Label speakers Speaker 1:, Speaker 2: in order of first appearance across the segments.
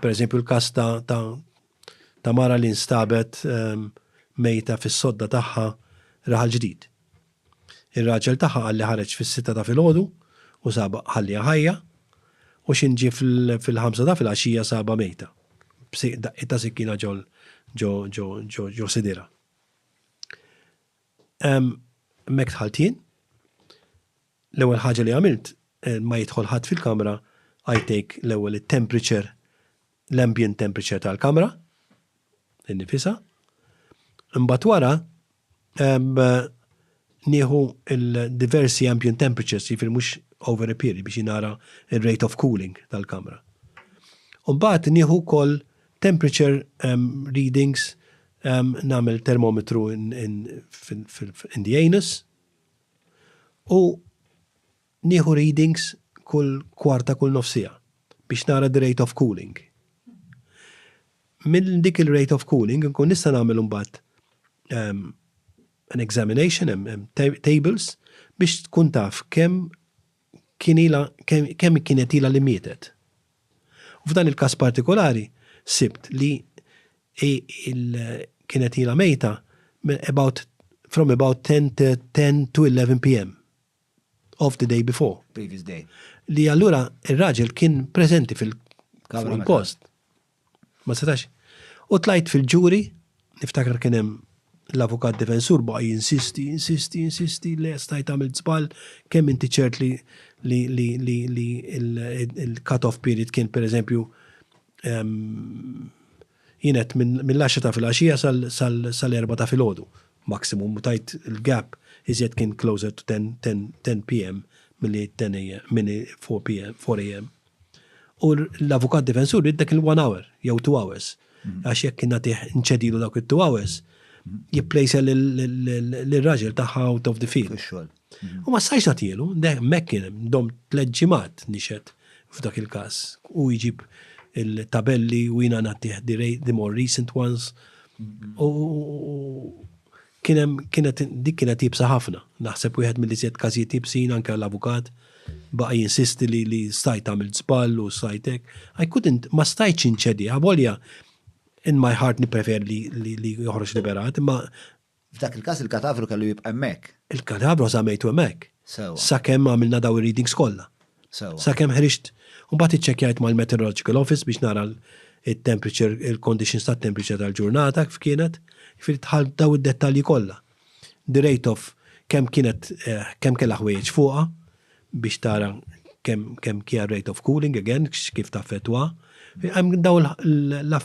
Speaker 1: Per eżempju l-każ ta' ta' ta' mara li nstabet ehm, mejta fis-sodda tagħha raħal ġdid. Ir-raġel tagħha qal li ħareġ fis-sitta ta' filgħodu u saba ħalliha ħajja u xinġi fil-ħamsa ta' filgħaxija saba mejta. Daqqiet ta' sikkina ġol ġo ġo ġo ġo sidira. Hemmhekk dħalt jien. L-ewwel ħaġa li għamilt, ma jidħol ħadd fil-kamra, I take l-ewwel it-temperature, l-ambient temperature tal-kamra, innifisha. Imbagħad wara, nieħu l-diversi ambient temperatures, jiġifieri mhux over a period biex nara r-rate of cooling tal-kamra. Imbagħad nieħu wkoll Temperature readings, nagħmel termometru in the anus u nieħu readings kull kwarta kull nofs siegħa biex nara the rate of cooling. Minn dik il-rate of cooling inkun nista' nagħmel imbagħad an examination, hemm tables biex tkun taf kemm kien ilha kemm kienet ilha li mietet. U f'dan il-każ partikolari sibt li kienet ilha mejta minn about from about 10 to 10 to 11 PM of the day before. Previous day.
Speaker 2: Li allura
Speaker 1: ir-raġel kien preżenti fil-post. Ma setax. U tlajt fil-ġuri, niftakar kien hemm l-avukat difensur baqa' jinsisti, jinsisti, jinsisti, le stajt għamilt żball, kemm inti ċert li li l-cut-off period kien pereżempju jien għedt mill-għaxra ta' filgħaxija sal-erbgħa ta' filgħodu maximum u tajt il-gap iżjed kien closer to 10 PM milli 10 AM, milli 4 PM, 4 AM. U l-avukat difensur jrid dak il-one hour jew two hours. Mm-hmm. Għax jekk kien nagħtih nċedilu dak it-two hours, mm-hmm. jipplejsa l-raġel tagħha out of the field. Mm-hmm. U ma sajx nagħtielu, mek kien dom tliet ġimgħat nixed f'dak il-każ. U jġib il-tabelli u jina nagħtih the more recent ones. U Kien hemm, kienet, dik kienet iebsa ħafna. Naħseb wieħed mill-iżjed każijiet iebsin, anke għall-avukat, baqa' jinsisti li, li stajt għamilt żball u stajt hekk. I couldn't, ma stajtx inċedi, avolja in my heart nippreferi li, li, li joħroġ liberat, imma. F'dak il-każ
Speaker 2: il-kadavru kellu jibqa' hemmhekk. Il-kadavru għażamejtu
Speaker 1: hemmhekk. Sewwa. Sakemm għamilna dawn ir-readings kollha. Sakemm ħriġt u mbagħad iċċekkjajt mal-Meteorological Office biex nara it-temperature, il-conditions tat-temperature tal-ġurnata kif kienet, jiġifieri dħalt f'dawn id-dettalji kollha. Direjt of kemm kienet, kemm kellha ħwejjeġ fuqha biex tara kemm kemm kien rate of cooling, again, kif taffettwa. Hemm dawn l.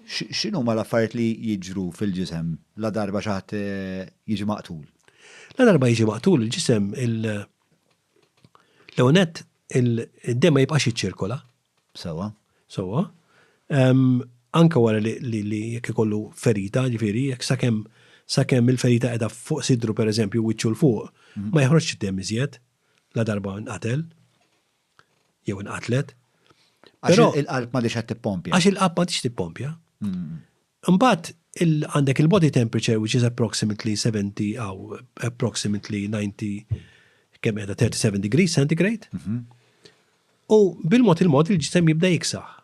Speaker 2: X'inhuma l-affarijiet li jiġru fil-ġisem ladarba xi ħadd jiġi maqtul? Ladarba
Speaker 1: jiġi maqtul il-ġisem, L-ewwel nett, id-demm ma jibqax jiċċirkola. Sewwa. Sewwa. Anke wara li jekk ikollu ferita, ġifieri, jekk sakemm sakemm il-ferita qiegħda fuq sidru pereżempju wiċċu l fuq, mhm. ma joħroġx id-demm iżjed la darba nqatel jew inqatlet. Għax
Speaker 2: il-qalb ma diċ qed tippompja. Għax il-qalb ma diċ tippompja.
Speaker 1: Mm. Imbagħad għandek il-body temperature which is approximately 70 aw approximately 90 kemm qiegħda 37 degrees centigrade. U bil-mod il-mod il-ġisem jibda jiksaħ.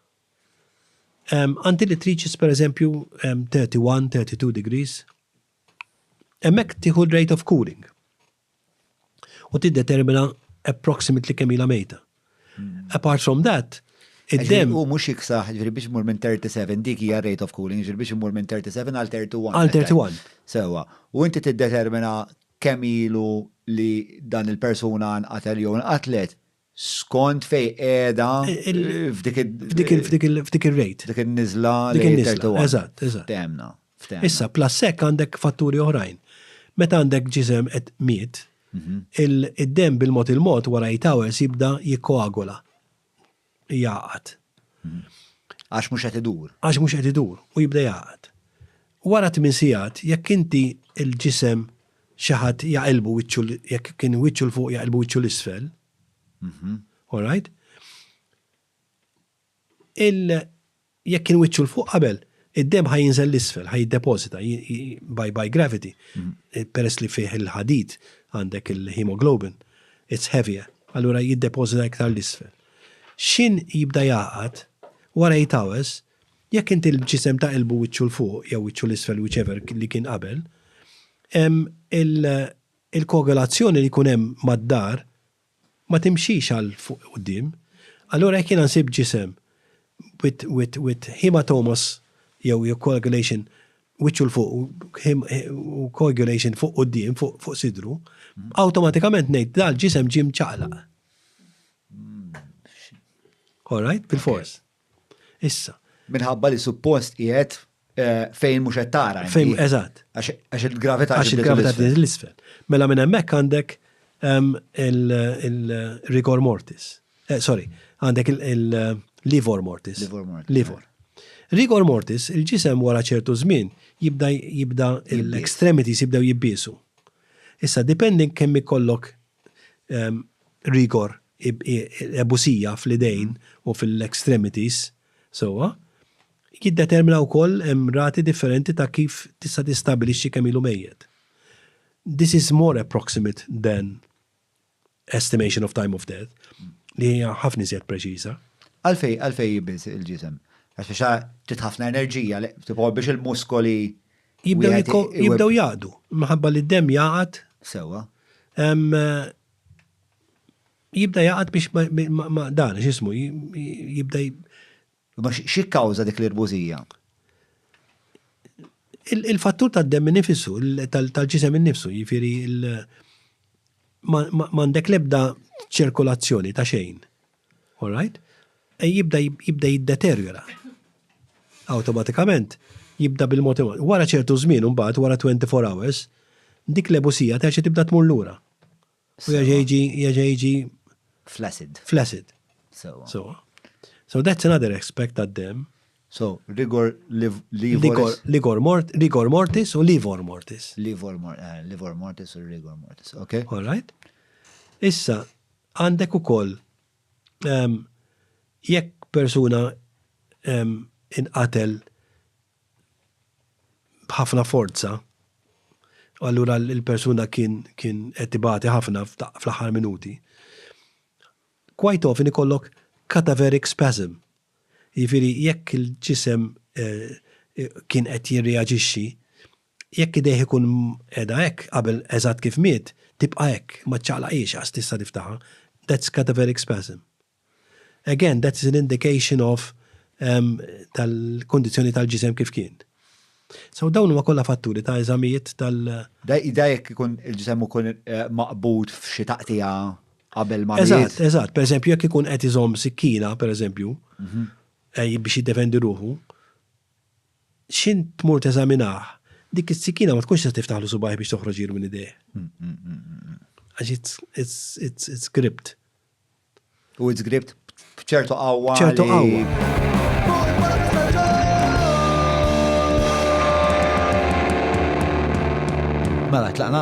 Speaker 1: Until it reaches per eżempju 31, 32 degrees. Hemmhekk tieħu rate of cooling. u tiddetermina approximately kemm ilha mejta. Apart from that, id-demm. U mhux jiksaħ,
Speaker 2: ġifieri biex imur minn 37 dik hija rate of cooling, ġifieri biex imur minn 37 għal 31. Għal 31.
Speaker 1: Sewwa. U
Speaker 2: inti tiddetermina kemm ilu li dan il-persuna nqatel jew inqatlet, skont fej qiegħda
Speaker 1: f'dik ir-rate. Dik in-niżla li
Speaker 2: qiegħda. Eżatt, eżatt. Temna. Issa, plus
Speaker 1: hekk għandek fatturi oħrajn. Meta għandek ġisem qed miet, mhm. id-dem bil-mod il-mod wara jitawers jibda jikkoagula. Jaqat. Mhm.
Speaker 2: Għax mhux qed idur. Għax mhux qed idur
Speaker 1: u jibda jaqat. Wara tmin sigħat, jekk inti il-ġisem xi ħadd jaqilbu wiċċu jekk kien wiċċu 'l fuq jaqilbu wiċċu 'l isfel. All right? Il jekk kien wiċċu 'l fuq qabel, id-demm ħaj jinżel l-isfel, ħaj jiddepożita by, by gravity. Eh, peress li fih il-ħadid għandek il-hemoglobin, it's heavier, allura jiddepożita iktar l-isfel. Xin jibda jaqat, wara 8 hours, Jekk inti l-ġisem ta' qilbu wiċċu 'l fuq jew wiċċu 'l isfel whichever li kien qabel, il-koagulazzjoni li jkun hemm mad-dar ma timxix għal fuq quddiem. Allura jekk jiena nsib ġisem with hematomous jew coagulation wiċċu 'l fuq u coagulation fuq quddiem, fuq sidru, awtomatikament ngħid dal-ġisem ġie mċaqlaq. Alright? Bilfors. Issa. Minħabba li
Speaker 2: suppost qiegħed fejn mhux qed tara. Fejn, eżatt.
Speaker 1: Għax il-gravità
Speaker 2: Għax il-gravità tieħed l-isfel.
Speaker 1: Mela minn hemmhekk għandek il-rigor mortis. Eh, sorry, għandek il-livor mortis. Livor mortis. Livor. Rigor mortis, il-ġisem wara ċertu żmien jibda jibda l-extremities jibdew jibbisu. Issa depending kemm ikollok rigor, ebusija fl-idejn u fil-extremities, sewwa, jiddetermina wkoll hemm rati differenti ta' kif tista' tistabbilixxi kemm ilu mejjet. This is more approximate than estimation of time of death, li hija ħafna iżjed preċiża. Għalfejn għalfejn
Speaker 2: jibid il-ġisem? Għax biex trid ħafna enerġija, tipo biex il-muskoli
Speaker 1: Jibdew jaqdu, minħabba li d-demm jaqgħad. Sewwa. Jibda jaqgħad biex ma dan, x'ismu, jibda.
Speaker 2: Ma xi kawża dik l-irbużija?
Speaker 1: Il-fattur tad-demm nifissu, tal-ġisem innifsu, jifieri m'għandek l-ebda ċirkolazzjoni ta' xejn. All right? E jibda jibda jiddeterjora. Awtomatikament jibda bil-mod wara ċertu żmien imbagħad wara 24 hours dik l-ebusija terġa' tibda tmur lura. U jerġa' jiġi jerġa' jiġi flaccid. Flaccid. So. So that's another aspect that them. So, rigor
Speaker 2: livor rigor mort
Speaker 1: rigor mortis u livor mortis. Livor mort eh,
Speaker 2: livor mortis u rigor mortis. Okay. All right.
Speaker 1: Issa Għandek ukoll jekk persuna inqatel b'ħafna forza, u allura l-persuna kien qed ibati ħafna fl-aħħar minuti, quite often ikollok cadaveric spasm, jiġifieri jekk il-ġisem kien qed jirreaġixxi, Jekk idejh ikun qiegħda hekk qabel eżatt kif miet, tibqa' hekk, ma ċċaqlaqhiex għax tista' tiftaħha. That's cadaveric spasm. Again, that is an indication of tal-kundizzjoni tal-ġisem kif kien. So dawn huma kollha fatturi ta' eżamijiet tal- Da
Speaker 2: jekk ikun il-ġisem ikun maqbud f'xi taqtigħa qabel ma miet. Eżatt, eżatt. Pereżempju, jekk
Speaker 1: ikun qed iżomm sikkina, pereżempju, biex jiddefendi ruħu, x'int tmur teżaminah, dik is-sikkina ma tkunx tista' tiftaħlu subgħajh biex toħroġ ilu minn idejh. Għax it's gripped. U
Speaker 2: it's gripped b'ċertu qawwa. ċertu
Speaker 1: qawwa.
Speaker 2: Mela, tlaqna?